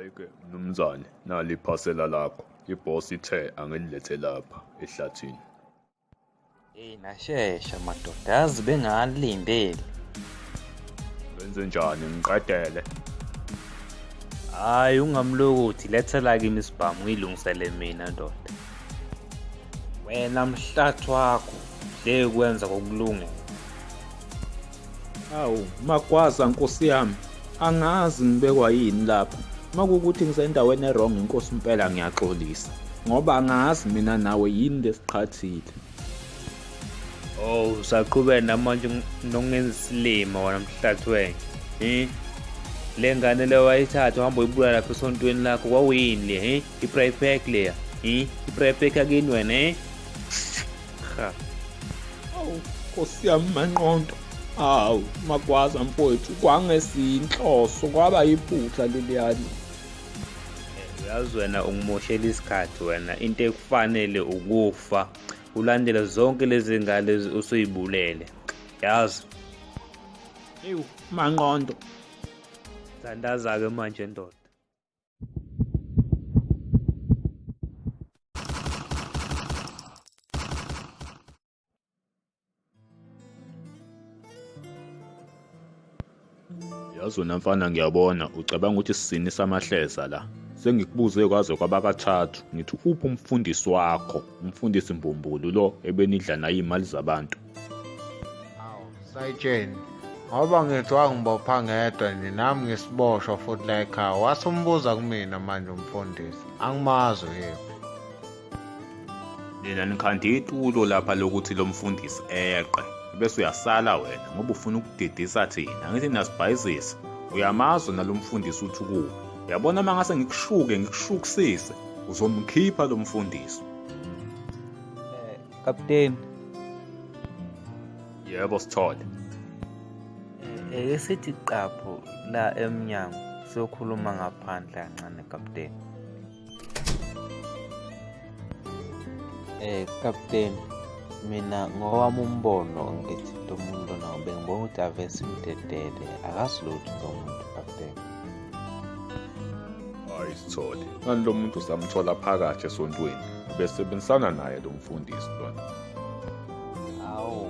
Hhayi-ke mnumzane, nali iphasela lakho. I-boss ithe angililethe lapha ehlathini. Eyi nashesha madoda, yazi bengalindeli. Wenze njani ngiqedele? Hhayi ungamlokothi, lethela kimi isibhamu ngiyilungisele mina ndoda. Wena mhlathi wakho, le kwenza kokulungela. Awu, magwaza nkosi yami. Angazi ngibekwa yini lapha. Makukuthi ngisendaweni erong inkosi impela ngiyaxolisa. Ngoba angazi mina nawe yini lesiqhathile. Oh, usaqhubeka namanje nokungenza isilima wena mhlathi wenye. Eh? Le ngane leyo wayithatha uhamba uyibulala lapha esontweni lakho kwawuyini le, eh? I-private pack leya. Eh? I-private pack akini wena, eh? Cha. Awu Nkosi yami manqondo. Hawu magwaza mfowethu kwangesinhloso kwaba yiphutha leliyani. Uyazi wena ungimoshela isikhathi wena into ekufanele ukufa ulandela zonke lezi ngane usuyibulele yazi ewu manqondo thandaza-ke manje ndoda yazi wena mfana ngiyabona ucabanga ukuthi sisini samahleza la sengikubuze kwaze kwabakathathu ngithi uphi umfundisi wakho umfundisi mbumbulu lo ebenidla naye imali zabantu awu sayitsheni ngoba ngithwa ngibopha ngedwa nje nami ngisiboshwa futhi la ekhaya wase umbuza kumina manje umfundisi angimazi uyephi nina nikhande itulo lapha lokuthi lo mfundisi eqe bese uyasala wena ngoba ufuna ukudidisa thina ngithi nasibhayizisa uyamazi nalo mfundisi uthi kuwe uyabona uma ngase ngikushuke ngikushukisise uzomkhipha lo mfundisi Captain. Yebo sithole. Eh, eh esithi qapho la emnyango sokhuluma ngaphandle kancane captain. Eh captain mina ngowami umbono ngithi lo muntu nawo bengibona ukuthi avese imdedele akasilutho lo muntu captain. hayi sithole kanti lo muntu samthola phakathi esontweni besebenzisana naye lo mfundisi lona awu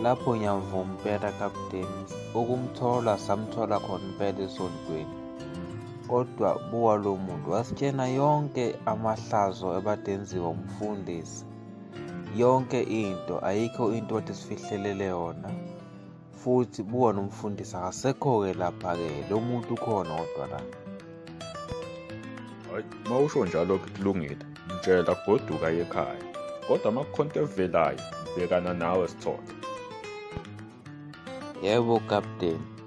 lapho ngiyamvuma impela kapteni ukumthola samthola khona impela esontweni kodwa buwa lo muntu wasitshena yonke amahlazo ebadenziwa umfundisi yonke into ayikho into athi sifihlelele yona futhi buka nomfundisi akasekho-ke lapha-ke lo muntu ukhona kodwa la hayi uma usho njalo kulungile mtshela goduka yekhaya kodwa amakhonto evelayo bhekana nawe sithole yebo kapteni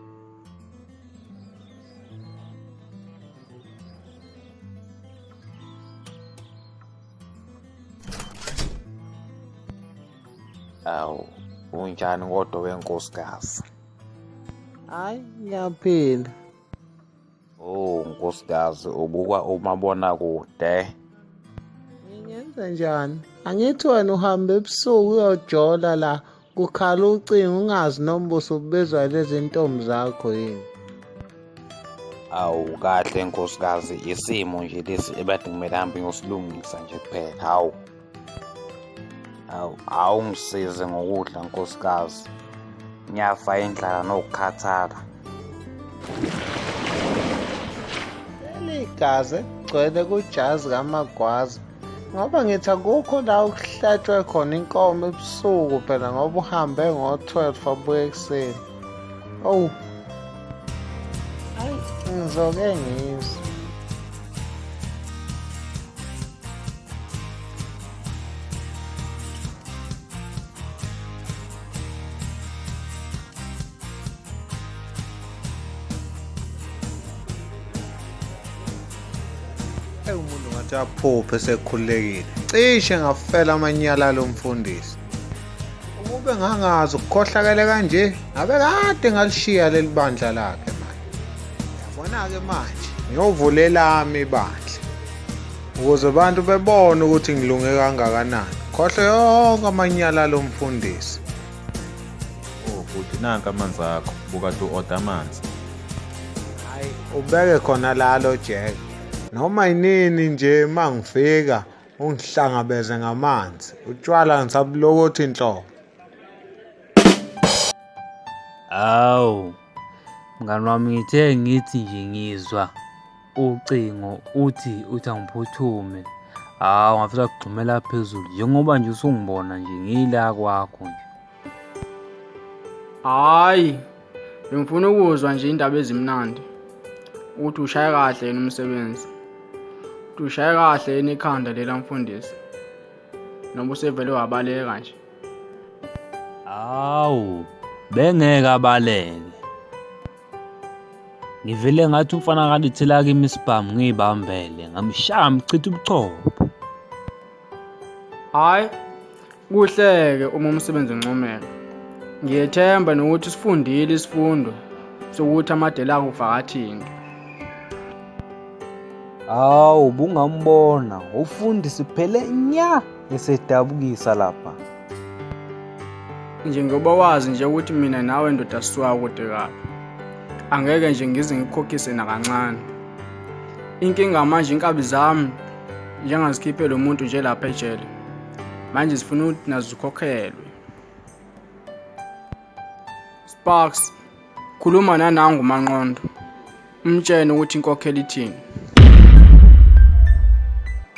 awu unjani kodwa wenkosikazi hayi ngiyaphila oh nkosikazi ubuka umabona kude ngingenza njani angithi wena uhambe ebusuku uyojola la kukhala ucingo ungazi noma busubizwa lezi ntombi zakho yini awu kahle nkosikazi isimo nje lesi ebade kumele hambe ngosilungisa nje kuphela hawu awu awungisize ngokudla nkosikazi ngiyafa indlala nokukhathala ligazi gcwele kujazi kamagwaza ngoba ngithi akukho la okuhlatshwe khona inkomo ebusuku phela ngoba uhambe ngo-12 abuye ekuseni owu ayi ngizoke ngizwe Eyi umuntu ngathi aphuphe sekhululekile. Cishe ngafela amanyala lo mfundisi. Ukube ngangazi ukukhohlakele kanje, ngabe kade ngalishiya leli bandla lakhe manje. Yabona-ke manje, ngiyovula elami ibandla. Ukuze abantu bebone ukuthi ngilunge kangakanani. Khohle yonke amanyala lo mfundisi. Oh bhuti nanka amanzi akho buka to order amanzi. Hayi ubeke khona lalo Jack. Noma yinini nje mangifika ungihlangabeze ngamanzi. Utshwala ngisabulokothi inhloko. Awu, mngani wami ngithe ngithi nje ngizwa ucingo uthi uthi angiphuthume hawu ngafisa kugxumela phezulu njengoba nje usungibona nje ngiyila kwakho nje hhayi bengifuna ukuzwa nje indaba ezimnandi ukuthi ushaye kahle yena umsebenzi ukuthi ushaye kahle yena ikhanda lela mfundisi noma usevele wabaleka nje hawu bengeke abaleke Ngivele ngathi umfana kalithela kimi isibhamu ngiyibambele ngamshaya mchitha ubuchopho. Hayi kuhleke uma umsebenzi uncomeka. Ngiyethemba nokuthi sifundile isifundo sokuthi amadela akho kuvakathini. Hawu bungambona ufundisi phele nya. esedabukisa lapha njengoba wazi nje ukuthi mina nawe ndoda siwa kude kabi angeke nje ngize ngikhokhise nakancane inkinga manje inkabi zami njengazikhiphe lo muntu nje lapha ejele manje zifuna ukuthi nazo zikhokhelwe sparks khuluma nanangu manqondo umtshene ukuthi inkokhelo ithini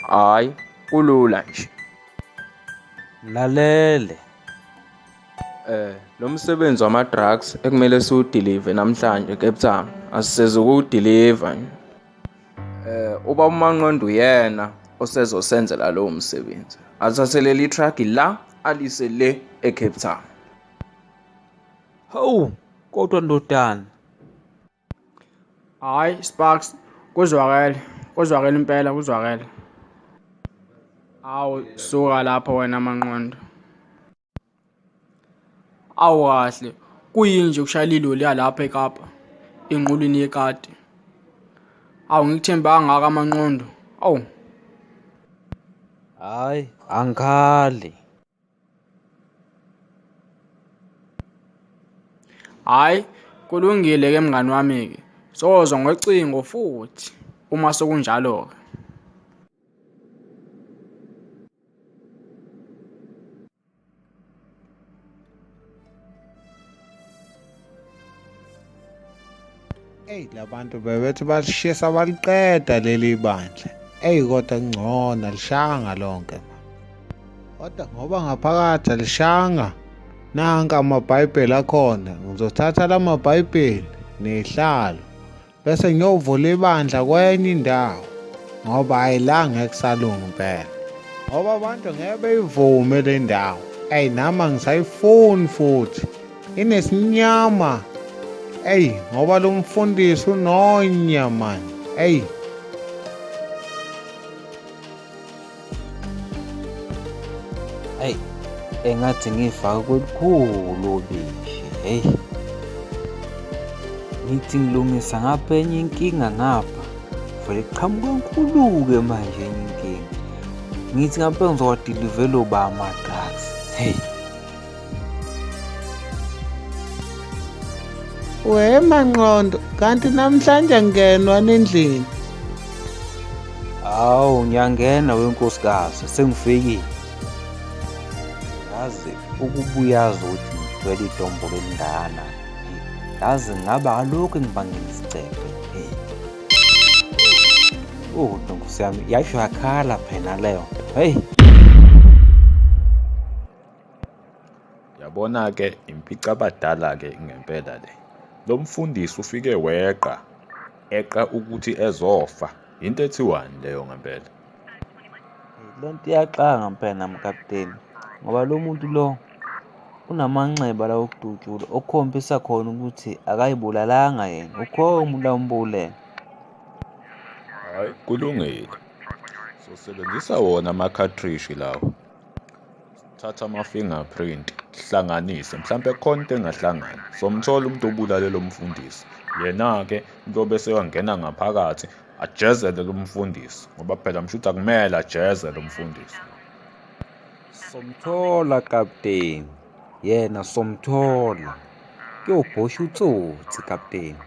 hhayi kulula nje lalele eh lo msebenzi wama drugs ekumele siwudeliver namhlanje Cape Town asiseze ukuwudeliver eh uba umanqondo uyena osezosenzela lowo msebenzi athathelele itruck la alise le eCape Town hawu kodwa ndodana Hayi Sparks kuzwakele kuzwakele impela kuzwakele. Awu suka lapho wena manqondo. Awu kahle kuyinje ukushayela iloli yalapha eKapa enqulwini yekati. Awu ngikuthembe angaka amanqondo. Awu. Hayi angikhali. Hhayi, kulungile-ke mngani wami-ke. Sozwa ngocingo futhi uma sekunjalo-ke. eyi labantu bebethi balishisa baliqeda leli bandla eyi kodwa ngcona lishanga lonke kodwa ngoba ngaphakathi alishanga nanka amabhayibheli akhona ngizothatha la mabhayibheli nehlalo bese ngiyovula ibandla kwenye indawo ngoba hayi la ngeke kusalunga impela ngoba abantu ngeke beyivume le ndawo eyi nami angisayifuni futhi inesinyama eyi ngoba lo mfundisi unonya mani eyi ayi engathi ngifaka kolukhulu obishi heyi ngithi ngilungisa ngapha enye inkinga ngapha vele qhamuka nkulu-ke manje enye inkinga ngithi ngapha ngizowadilevelobama We Manqondo, kanti namhlanje angenwa nendlini. Hawu ngiyangena wenkosikazi sengifikile. Yazi ukubuyazi ukuthi ngithwele idombo lelingana. Yazi ngaba alokhu ngibangela isicebe. Oh, nkosi yami yasho yakhala phela leyo. Hey. Yabona-ke impicabadala-ke ngempela le. Lo mfundisi ufike weqa, eqa ukuthi ezofa. Yinto ethiwani leyo ngempela? Le nto iyaxanga mpela mkapteni ngoba lo muntu lo unamanxeba lawo okudutshula okukhombisa khona ukuthi akayibulalanga yena ukhona umuntu ambulela hayi kulungile sosebenzisa wona ama-cartridge lawo thatha ama-finger print hlanganise mhlawumpe khona into engahlangani somthola umuntu obulale lo mfundisi yena-ke kuyobe seyongena ngaphakathi ajezele lo mfundisi ngoba phela mshuthi akumele ajeze lo mfundisi somthola kapteni yena somthola kuyobhosha utsotsi kapteni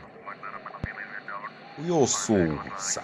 uyosusa